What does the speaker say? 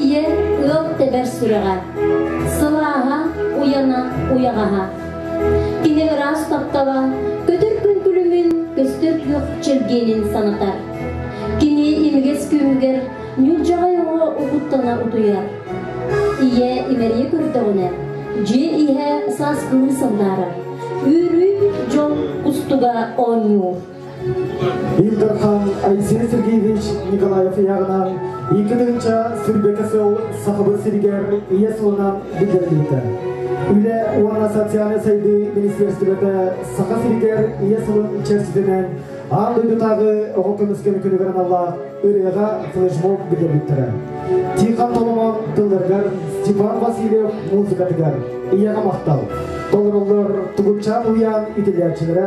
Ийэ ыал тэбэр сүрэҕэ, Сылааһа, уйана, уйаҕаһа. Кини ыраас таптала көтөр күҥкүлүмүн көстөр күөх чэлгиэнин санатар. Кини имигэс күүһүгэр ньулдьаҕай оҕо угуттана утуйар. Ийэ имэрийэ көрдөҕүнэ, дьиэ иһэ саас кылыы сандаарар, үөрүү дьон кустуга оонньуур. Ил Дархан Айсен Сергеевич Николаев иһэҕинэн икки тыһынча сирбэкэ сыл Сахабыт сиригэр ийэ сылынан биллэрбитэ. Үлэ уонна социальнай сайдыы министерствота Саха сиригэр ийэ сылын чэрчитинэн аан дойдутааҕы оҕо көмүскэлин күнүгэр аналлаах ырыаҕа флешмоб биллэрбиттэрэ. Тихон Толомон тылларыгар Степан Васильев музыкатыгар ийэҕэ махтал. Толороллор Тугутчаан уйаан итилээччилэрэ